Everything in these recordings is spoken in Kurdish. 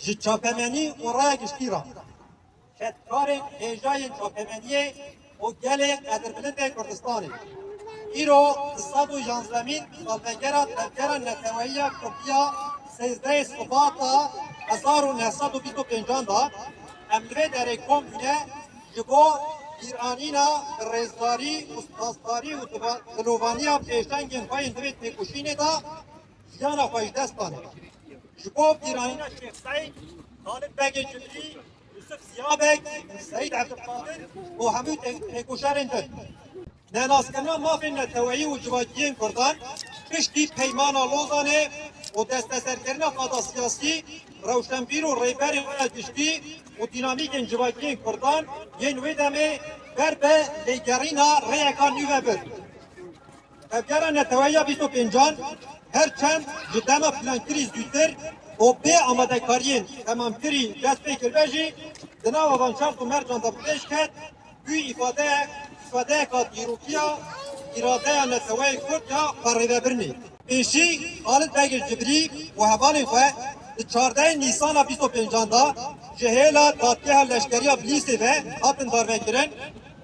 Ji çapemenî û raya giştî re kedkarên hêjayên çapemeniyê û gelê qedrbilindên Kurdistanê îro di sed û yanzdemîn salvegera tevgera neteweyiya kurdî ya sêzdehê Sibata hezar û neh sed û bîst û pêncan de em li vê derê kom bûne ji bo bîranîna bi rêzdarî û spasdarî û dilovaniya pêşengên xwe yên di vê têkoşînê de jiyana xwe ji dest dane. Ji bo bîrayîna Şêx Seîd, Xalid Begê Cimrî, Yusuf Ziya Beg, Seîd Ebdulqadir û hemû têkoşerên din. Nenaskirina mafên neteweyî û civakiyên Kurdan piştî Peymana Lozanê û desteserkirina qada siyasî, rewşenbîr û rêberên xwe ya giştî û dînamîkên civakiyên Kurdan yên wê demê ber bi lêgerîna rêyeka nû ve bir. Tevgera Neteweya bîst û pêncan her çend ji dema plankirî zûtir û bê amadekariyên temamkirî dest pê kiribe jî di nava van çar ku mercan de bi pêş ket bû îfadeyek îfadeyeka dîrokiya îradeya neteweyê kurd ya parêvebirinê. Pêşî Xalid Begîr Cibrî û hevalên xwe di çardehê Nîsana bîst û pêncan de ji hêla dadgeha leşkeriya Bilîsê ve hatin darvekirin.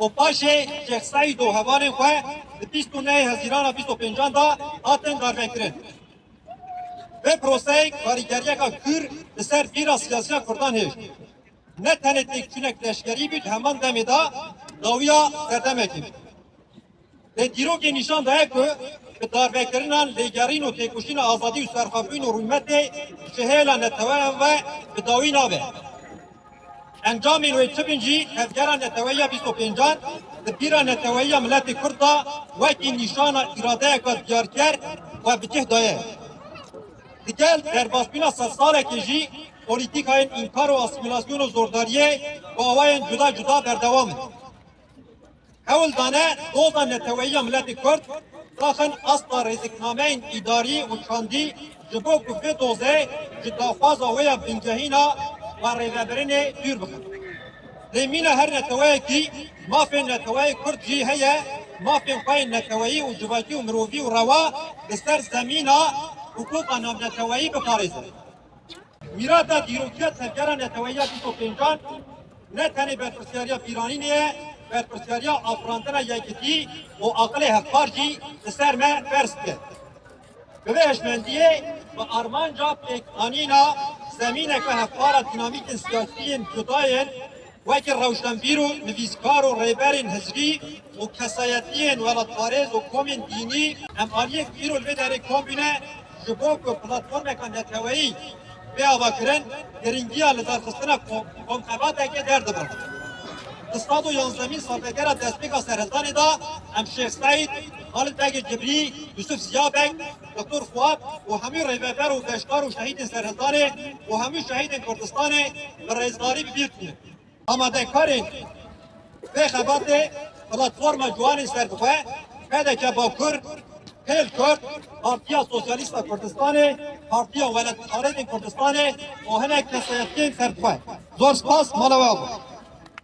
Opaşê Şêxseyîd û hevalên xwe di bîst û neyê Hezîrana bîst û pêncan de hatin darvekirin. Vê proseyê karîgeriyeka kûr li ser bîra siyasiya kurdan hêj. Ne tenê têkçûnek leşkerî bû di heman demê de dawiya serdemekê bû. Lê dîrokê nîşan daye ku bi darbekirinan, lêgerîn û têkoşîna azadî û serxwebûn û rûmetê ji hêla neteweyan ve bi dawî nabe. Encamên wê çi bin jî tevgera neteweya bîst û pêncan di bîra neteweya miletê Kurd de wekî nîşana îradeyeke diyarker we bi cih daye. Digel derbasbûna sedsalekê jî polîtîkayên înkar û asîmîlasyonê zordariyê bi awayên cuda cuda berdewam in. Hewl dane doza neteweyî ya miletê Kurd daxin asta rêziknameyên îdarî û çandî ji bo ku vê dozê ji daxwaza wê ya bingehîna xwe rêvebirinê dûr bixin. Lê mîna her neteweyekî mafên neteweyê Kurd jî heye, mafên xwe yên neteweyî û civakî û mirovî û rewa li ser zemîna hiqûqa navneteweyî biparêzin. Mîrata dîrokiya tevgera neteweya bîst û pêncan ne tenê berpirsyariya bîranînê ye, berpirsyariya afirandina yekitî û aqilê hevpar jî li ser me ferz dike. Bi vê hişmendiyê bi armanca pêkanîna zemîneke hevpara dînamîkên siyasî yên cuda yên Wekî rewşenbîr û nivîskar û rêberên hizbî û kesayetiyên welatparêz û komên dînî, em aliyek îro li vê derê kom bûne ji bo ku platformeke neteweyî bê avakirin, girîngiya lidarxistina komxebatekê derdibin. Di sed û yanzdemîn salvegera destpêka serhildanê de em Şêx Seîd, Halid Begê Cibrî, Yusuf Zîya Beg, Doktor Fuat û hemû rêveber û beşdar û şehîdên Serhildanê û hemû şehîdên Kurdistanê bi rêzdarî bi bîr tînin. Amadekarên vê xebatê Platforma Ciwanên Serbixwe, PDK Bakur, Hêl Kurd, Partiya Sosyalîsta Kurdistanê, Partiya Welatparêzên Kurdistanê û hinek kesayetiyên serbixwe. Zor spas mala we abû.